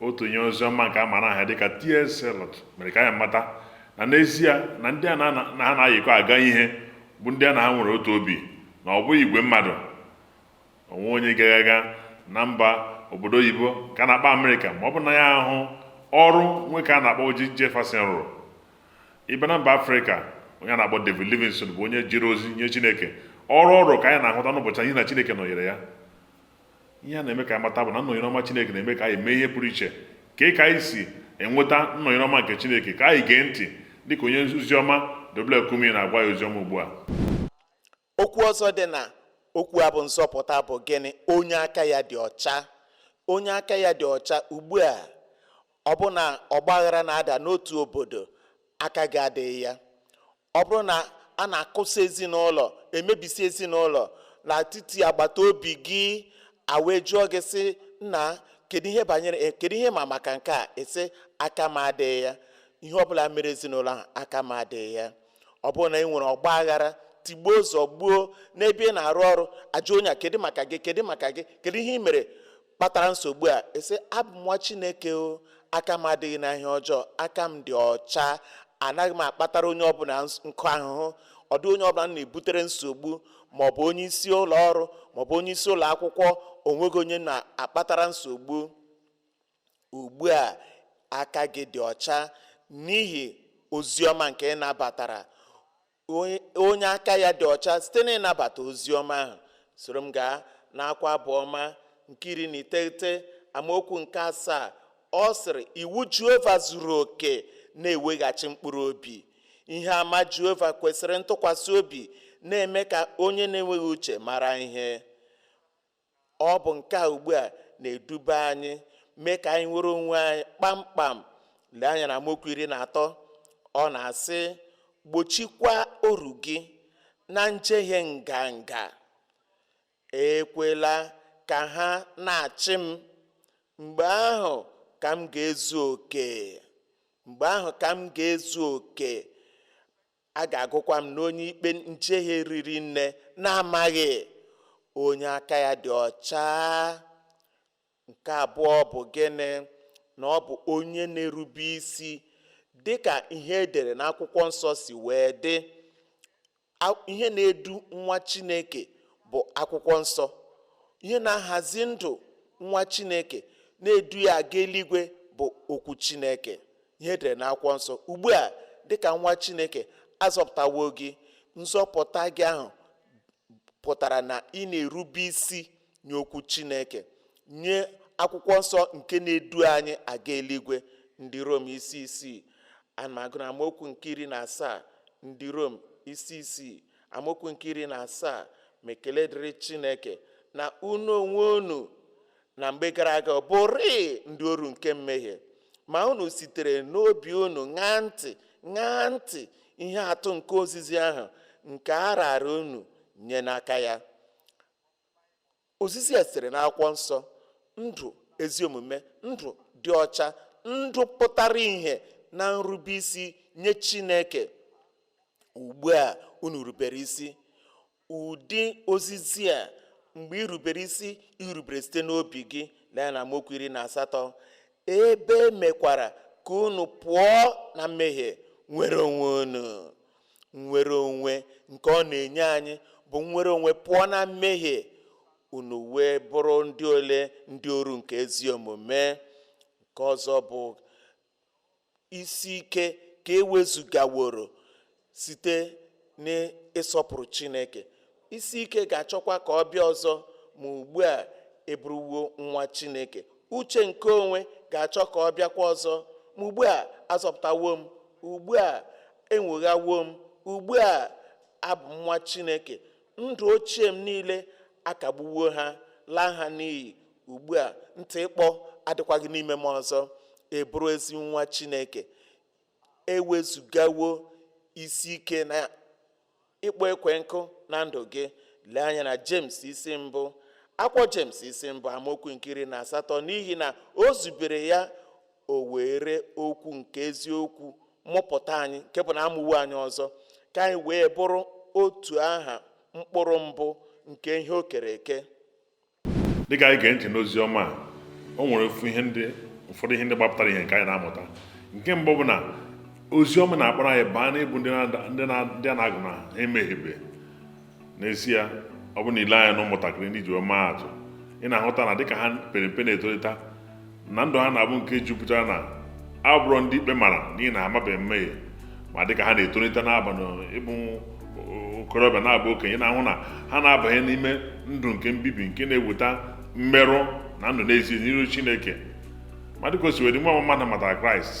otu onye ozi ọma nke a mara aha dịka T.S. Eliot mere ka anyị mata na n'ezie na ndị a na- na ha na-ayịkọ aga ihe bụ ndị a na ha nwere otu obi na ọ bụghị igwe mmadụ onwe onye ga-aga na mba obodo oyibo nke a na-akpọ Amerịka ma ọ bụ na ya ahụ ọrụ nwoke a na-akpọ Oji Jefferson rụrụ ị bịa na mba afrịka onye a na-akpọ David Livingstone bụ onye jere ozi nye chineke ọrụ ọrụ ka anyị na-ahụta n'ụbọchị anyị na chineke nọnyere ya ihe a na-eme ka anyị mata bụ na nnọnyere ọma Chineke na-eme ka anyị mee ihe pụrụ iche ka ị ka anyị si enweta nnọnyere ọma nke Chineke ka anyị gee ntị dịka onye ozi ọma W.F. Kumuyi na-agwa ya ozi ọma ugbu a okwu ọzọ dị na okwu a bụ nzọpụta bụ gịnị onye aka ya dị ọcha onye aka ya dị ọcha ugbu a ọ bụ na ọgbaghara na-ada n'otu obodo aka gị adịghị ya ọ bụrụ na a na-akụsa ezinụlọ emebisi ezinụlọ n'etiti agbata obi gị a wee jụọ gị sị nna kedu ihe banyere eh, kedu ihe ị ma maka nke a ị sị aka m adịghị ya ihe ọbụla mere ezinụlọ ahụ aka m adịghị ya ọ bụrụ na e nwere ọgba aghara tigbuo zọgbuo n'ebe ị na-arụ ọrụ a jụọ onye a kedu maka gị kedu maka gị kedu ihe ị mere kpatara nsogbu a ị sị abụ m nwa chineke o aka m adịghị na ihe ọjọọ aka m dị ọcha anaghị m akpatara onye ọbụla nkụ ahụhụ ọ dịghị onye ọbụla m na-ebutere nsogbu ma ọ bụ onye isi ụlọ ọrụ ma ọ bụ onye isi ụlọ akwụkwọ onweghị onye m na-akpatara nsogbu ugbu a aka gị dị ọcha n'ihi ozi ọma nke ị nabatara onye aka ya dị ọcha site n'ịnabata ozi ọma ahụ soro m gaa n'akwụkwọ abụ ọma nke iri na iteghete amaokwu nke asaa ọ sịrị iwu jehova zuru oke na-eweghachi mkpụrụ obi ihe ama jehova kwesịrị ntụkwasị obi na-eme ka onye na-enweghị uche mara ihe ọ bụ nke a ugbu a na-eduba anyị mee ka anyị nwere onwe anyị kpamkpam lee anya na amaokwu iri na atọ ọ na-asị gbochikwa oru gị na njehie nganga ekwela ka ha na-achị m mgbe ahụ ka m ga-ezu oke mgbe ahụ ka m ga-ezu oke a ga-agụkwa m n'onye ikpe njehie riri nne na-amaghị onye aka ya dị ọcha nke abụọ bụ gịnị na ọ bụ onye na-erube isi dị ka ihe e dere n'akwụkwọ nsọ si wee dị ihe na-edu nwa chineke bụ akwụkwọ nsọ ihe na-ahazi ndụ nwa chineke na-edu ya aga eluigwe bụ okwu chineke ihe edere na akwụkwọ nsọ ugbu a dịka nwa chineke azọpụtawo gị nzọpụta gị ahụ pụtara na ị na-erube isi nye okwu chineke nye akwụkwọ nsọ nke na-edu anyị aga eluigwe ndị rom isi isii ana m agụ na amaokwu nke iri na asaa ndị rom isi isii amaokwu nke iri na asaa ma ekele dịrị chineke na unu onwe unu na mgbe gara aga bụrịị ndị oru nke mmehie ma unu sitere n'obi unu ṅaa ntị ṅaa ntị ihe atụ nke ozizi ahụ nke a raara unu nye n'aka ya ozizi a sitere n'akwụkwọ nsọ ndụ ezi omume ndụ dị ọcha ndụ pụtara ihe na nrube isi nye chineke ugbu a unu rubere isi Ụdị ozizi a mgbe i rubere isi i rubere site n'obi gị lee na amaokwu iri na asatọ ebe e mekwara ka unu pụọ na mmehie nwere onwe unu nnwere onwe nke ọ na-enye anyị bụ nnwere onwe pụọ na mmehie unu wee bụrụ ndị ole ndị oru nke ezi omume nke ọzọ bụ isi ike ka ewezugaworo site n'ịsọpụrụ Chineke. Isi ike ga-achọkwa ka ọ bịa ọzọ ma ugbu a ị bụrụwo nwa Chineke. Uche nke onwe ga-achọ ka ọ bịakwa ọzọ ma ugbu a azọpụtawo m, ugbu a enwoghawo m, ugbu a abụ m nwa Chineke. Ndụ ochie m niile akagbuwo ha, laa ha n'iyi. Ugbu a, ntị ịkpọ adịkwaghị n'ime m ọzọ, ị bụrụ ezi nwa Chineke. Ewezugawo isi ike na ịkpọ ekwe nkụ na ndụ gị. Lee anya na Jems isi mbụ. Akwụkwọ Jems isi mbụ amaokwu nke iri na asatọ n'ihi na o zubere ya o were okwu nke eziokwu mụpụta anyị nke bụ na amụwo anyị ọzọ ka anyị wee bụrụ otu aha mkpụrụ mbụ nke ihe o kere eke. dịka anyị gee ntị n'ozi ọma a o nwere ofu ihe ndị ụfọdụ ihe ndị gbapụtara ihe nke anyị na-amụta nke mbụ bụ na ozi ọma na-akpọrọ anyị baa n'ịbụ ndị na- ndị na- ndị a na-agụ na ha emehiebe n'ezie ọ bụrụ na i lee anya na ụmụntakịrị n'iji wee maa atụ ị na-ahụta na dịka ha pere mpe na-etolite na ndụ ha na-abụ nke jupụtara na abụrọ ndị ikpe mara n'ihi na ha amabeghị mmehie ma dịka ha na-etolite na-aba ịbụ okorobịa na-abụ okenye na-ahụ na ha na-abanye n'ime ndụ nke mbibi nke na-eweta mmerụ na ndụ n'ezie n'iru Chineke ma dịka o si wee dị nwa mmadụ matara Kraịst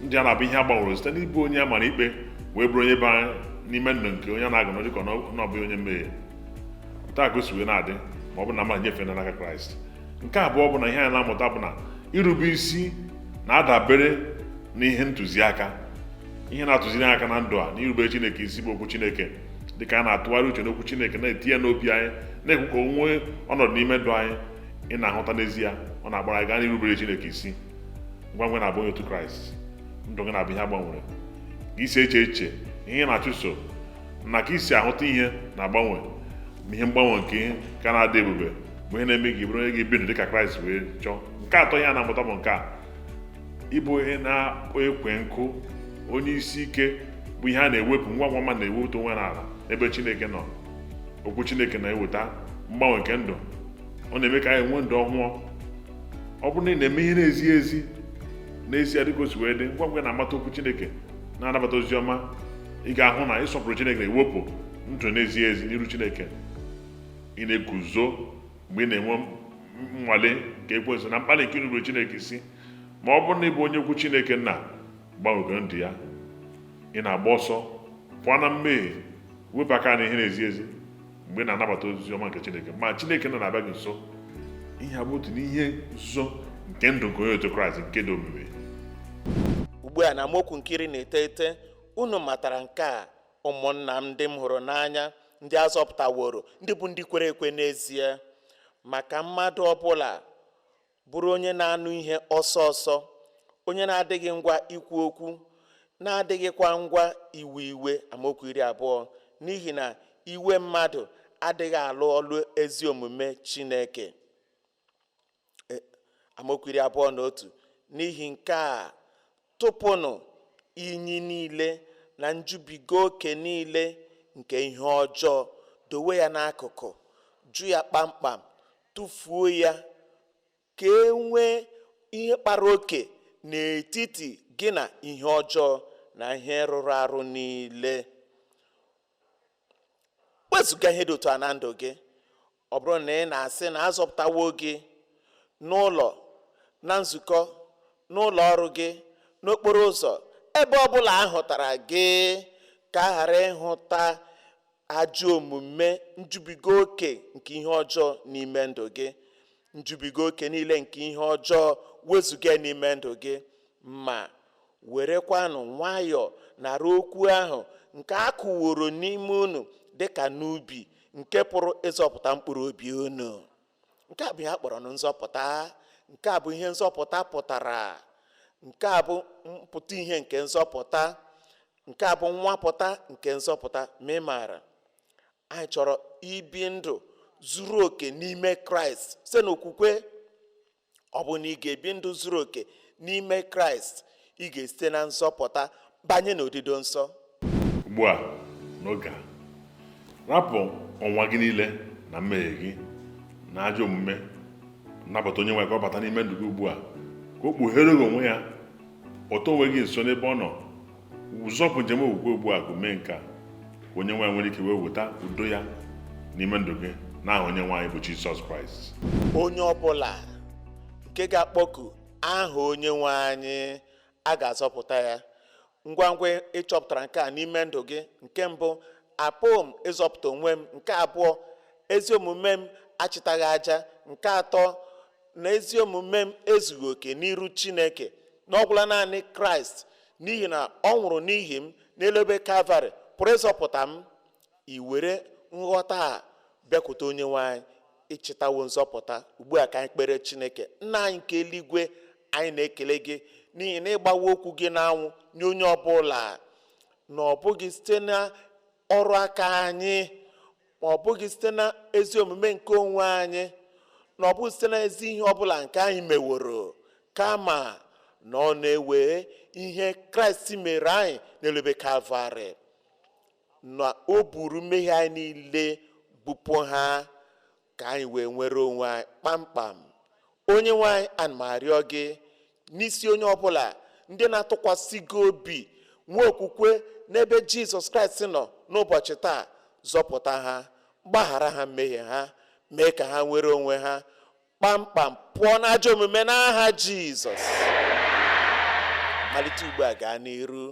ndụ ya na-abụ ihe a gbanwere site n'ịbụ onye a mara ikpe wee bụrụ onye bara n'ime ndụ nke onye a na-agụ na ọ dịka na ọ bụghị onye mmehie otu a ka o si wee na-adị ma ọ bụ na mmadụ nyefee n'aka Kraịst nke abụọ bụ na ihe anyị na-amụta bụ na irube isi na-adabere n'ihe ntụziaka ihe na-atụziri anyị aka na ndụ a na irubere chineke isi bụ okwu chineke dịka a na-atụgharị uche n'okwu chineke na-etinye n'obi anyị na-ekwe ka o nwee ọnọdụ n'ime ndụ anyị ị na-ahụta n'ezie ọ na-agbara anyị gaa n'irubere chineke isi ngwa ngwa ị na-abụ onye otu kraịst ndụ gị na-abụ ihe a gbanwere ka i si eche eche ihe ị na-achụso na ka i si ahụta ihe na-agbanwe ma ihe mgbanwe nke ihe ka na-adị ebube bụ ihe na-eme gị bụrụ onye ga-ebi ndụ dịka kraịst wee chọọ nke atọ ihe a na-amụta bụ nke a ịbụ onye na-akpọ ekwe nkụ onye isi ike bụ ihe a na-ewepụ ngwa ngwa ma na-ewepụta onwe n'ala ebe chineke nọ okwu chineke na-eweta mgbanwe nke ndụ ọ na-eme ka anyị nwee ndụ ọhụụ ọ bụrụ na ị na-eme ihe na-ezighị ezi n'ezie dịka o si wee dị ngwa ngwa na-amata okwu chineke na-anabata ozi ọma ị ga-ahụ na ịsọpụrụ chineke na-ewepụ ndụ na-ezighị ezi n'iru chineke ị na-eguzo mgbe ị na-enwe nnwale nke ekwensu na mkpali nke inupụrụ chineke isi ma ọ bụrụ na ị bụ onye okwu chineke nna gbanwego ndụ ya ị na-agba ọsọ pụọ na mmehie wepụ aka na ihe na-ezighị ezi mgbe ị na-anabata ozi ọma nke chineke ma chineke nna na-abịa gị nso ihe a bụ otu n'ihe nzuzo nke ndụ nke onye otu kraịst nke dị omimi ugbu a na amaokwu nke iri na iteghete unu matara nke a ụmụnna m ndị m hụrụ n'anya ndị a zọpụtaworo ndị bụ ndị kwere ekwe n'ezie ma ka mmadụ ọbụla bụrụ onye na-anụ ihe ọsọ ọsọ onye na-adịghị ngwa ikwu okwu na-adịghịkwa ngwa iwe iwe amaokwu iri abụọ n'ihi na iwe mmadụ adịghị alụ ọlụ ezi omume Chineke e, amaokwu iri abụọ na otu n'ihi nke a tụpụnụ inyi niile na njubiga oke niile nke ihe ọjọọ dowe ya n'akụkụ jụ ya kpamkpam tụfuo ya ka e nwee ihe kpara oke n'etiti gị na ihe ọjọọ na ihe rụrụ arụ niile wezụga ihe dị otu a na ndụ gị ọ bụrụ na ị na-asị na a zọpụtawo gị n'ụlọ na nzukọ n'ụlọ ọrụ gị n'okporo ụzọ ebe ọ bụla a hụtara gị ka a ghara ịhụta ajọ omume njubiga oke nke ihe ọjọọ n'ime ndụ gị njubiga oke niile nke ihe ọjọọ wezụga n'ime ndụ gị ma Werekwanụ nwayọọ nara okwu ahụ nke a kụworo n'ime unu dị ka n'ubi nke pụrụ ịzọpụta mkpụrụ obi unu. Nke a bụ ihe a kpọrọ nụ nzọpụta. Nke a bụ ihe nzọpụta pụtara. Nke a bụ mpụta ihe nke nzọpụta. Nke a bụ nnwapụta nke nzọpụta. Ma ị maara, anyị chọrọ ibi ndụ zuru oke n'ime Kraịst site n'okwukwe. ọ bụ na ị ga-ebi ndụ zuru oke n'ime kraịst ị ga-esite na nzọpụta banye n'odido nsọ ugbu a n'oge a rapụ ọnwa gị niile na mmehie gị na ajọ omume nabata onye nwe ka ọ bata n'ime ndụ gị ugbu a ka o kpughere gị onwe ya kpọta onwe gị nso n'ebe ọ nọ ị zọpụ njem okwukwe ugbu a gị mee nke a ka onye nwe anyị nwere ike wee weta udo ya n'ime ndụ gị n'aha onye nwe anyị bụ jizọs kraịst onye ọbụla nke ga-akpọku aha onye nwe anyị a ga-azọpụta ya ngwa ngwa ị chọpụtara nke a n'ime ndụ gị nke mbụ apụghị m ịzọpụta onwe m nke abụọ ezi omume m achịtaghị aja nke atọ na ezi omume m ezughị oke n'iru chineke na ọ gwụla naanị kraịst n'ihi na ọ nwụrụ n'ihi m n'elu obe kalvarị pụrụ ịzọpụta m i were nghọta a bịakwute onye nwe anyị ị chịtawo nzọpụta ugbu a ka anyị kpere chineke nna anyị nke eluigwe anyị na-ekele gị n'ihi na ị gbawo okwu gị n'anwụ nye onye ọbụla na ọ bụghị site na ọrụ aka anyị ma ọ bụghị site na ezi omume nke onwe anyị na ọ bụghị site na ezi ihe ọbụla nke anyị meworo kama na ọ na-ewe ihe kraịst mere anyị n'elu obe kalvarị na o buru mmehie anyị niile bupụ ha ka anyị wee nwere onwe anyị kpamkpam onye nwe anyị ana m arịọ gị n'isi onye ọbụla ndị na-atụkwasị gị obi nwee okwukwe n'ebe jizọs kraịst nọ n'ụbọchị taa zọpụta ha gbaghara ha mmehie ha mee ka ha nwere onwe ha kpamkpam pụọ n'ajọ omume n'aha jizọs malite ugbu a gaa n'iru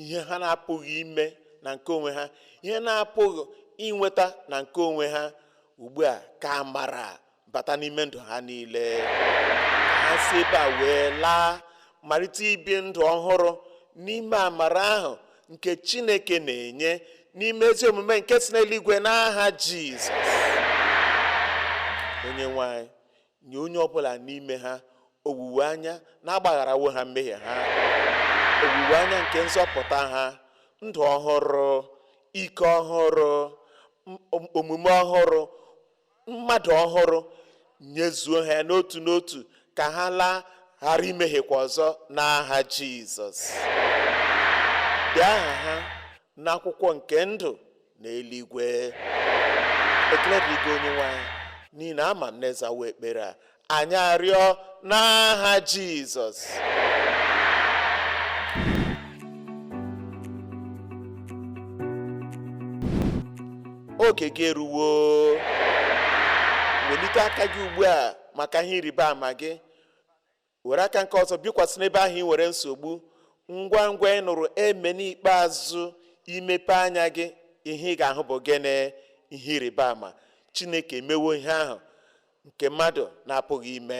ihe ha na-apụghị ime na nke onwe ha ihe ha na-apụghị inweta na nke onwe ha ugbu a ka amara bata n'ime ndụ ha niile ha si ebe a wee laa malite ibi ndụ ọhụrụ n'ime amara ahụ nke chineke na-enye n'ime ezi omume nke si n'eluigwe n'aha jizọs onye nwe anyị Nye onye ọ bụla n'ime ha owuwe anya na agbagharawo ha mmehie ha, owuwe anya nke nzọpụta ha, ndụ ọhụrụ, ike ọhụrụ, omume ọhụrụ, mmadụ ọhụrụ, nyezuo ha n'otu n'otu ka ha laa ghara imehiekwa ọzọ n'aha Jizọs. Dee aha ha n'akwụkwọ nke ndụ n'eluigwe ekele dịrị gị onye nwe anyị n'ihi na ama m na ị zawo ekpere a anyị arịọ n'aha jizọs oge gị eruwo welite aka gị ugbu a maka ihe ịrịba ama gị were aka nke ọzọ bikwasị n'ebe ahụ ị nwere nsogbu ngwa ngwa ị nụrụ amen ikpeazụ i mepe anya gị ihe ị ga-ahụ bụ gịnị ihe ịrịba ama chineke emewo ihe ahụ nke mmadụ na-apụghị ime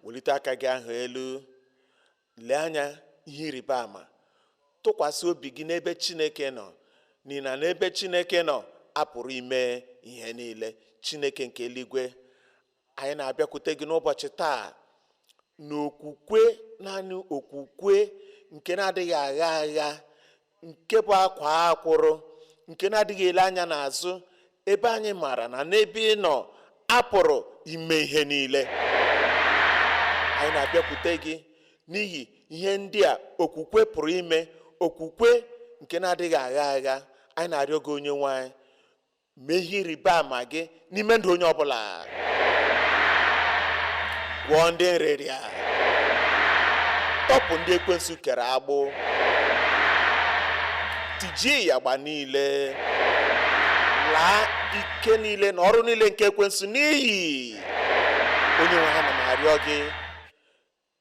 welite aka gị ahụ elu Lee anya ihe ịrịba ama. Tụkwasị obi gị n'ebe Chineke nọ, n'ihi na n'ebe Chineke nọ, a pụrụ ime ihe niile. Chineke nke eluigwe, anyị na-abịakwute gị n'ụbọchị taa n'okwukwe, naanị okwukwe nke na-adịghị agha agha, nke bụ akwaa akwụrụ nke na-adịghị ele anya n'azụ ebe anyị maara na n'ebe ị nọ a pụrụ ime ihe niile anyị na-abịakwute gị n'ihi ihe ndị a okwukwe pụrụ ime okwukwe nke na-adịghị agha agha anyị na-arịọ gị onye nwe anyị mee ihe ịrịba ama gị n'ime ndụ onye ọbụla gwọọ ndị nrịrịa tọpụ ndị ekwensu kere agbụ tijie ịyagba niile laa ike niile na ọrụ niile nke ekwensu n'iyi onye nwe anyị ana m arịọ gị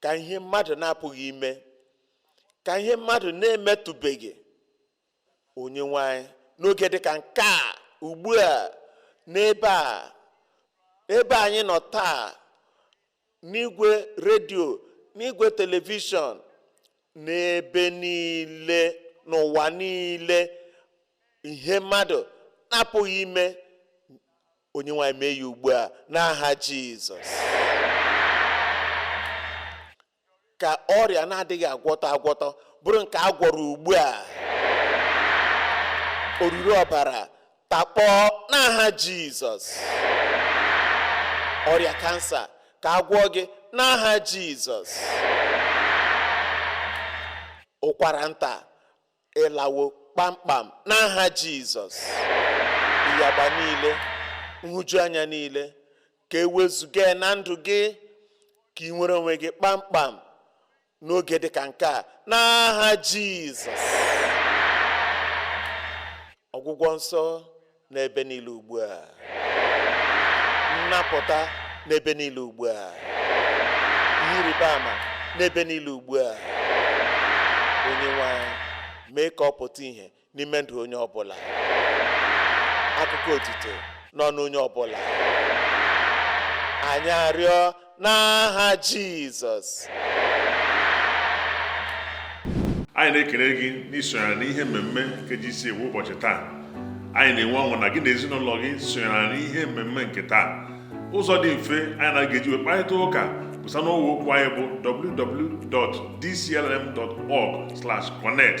ka ihe mmadụ na-apụghị ime ka ihe mmadụ na-emetụbeghị onye nwe anyị n'oge dịka nke a ugbu a n'ebe a ebe anyị nọ taa n'igwe redio n'igwe telivishọn n'ebe niile n'ụwa niile ihe mmadụ na-apụghị ime Onyenwe anyị mee ya ugbu a n'aha Jizọs. Ka ọrịa na-adịghị agwọtọ agwọtọ bụrụ nke a gwọrọ ugbu a. Oruru ọbara takpọọ n'aha Jizọs. Ọrịa kansa ka a gwọọ gị n'aha Jizọs. Ụkwara nta ịlawo kpamkpam n'aha Jizọs ịyagba niile nhụjuanya niile ka e wezuga na ndụ gị ka ị nwere onwe gị kpamkpam n'oge dị ka nke a n'aha Jizọs ọgwụgwọ nsọ n'ebe niile ugbu a nnapụta n'ebe niile ugbu a ihe ịrịba ama n'ebe niile ugbu a Onyenwe anyị mee ka ọ pụta ihe n'ime ndụ onye ọbụla akụkọ otito n'ọnụ onye ọbụla anyị arịọ n'aha Jizọs anyị na-ekele gị n'isonyere n'ihe mmemme nke GCK kwa ụbọchị taa anyị na-enwe ọṅụ na gị na ezinụlọ gị sonyere n'ihe mmemme nke taa ụzọ dị mfe anyị na gị ga-eji wee kparịta ụka bụ site n'ọwa okwu anyị bụ www.dclm.org/connect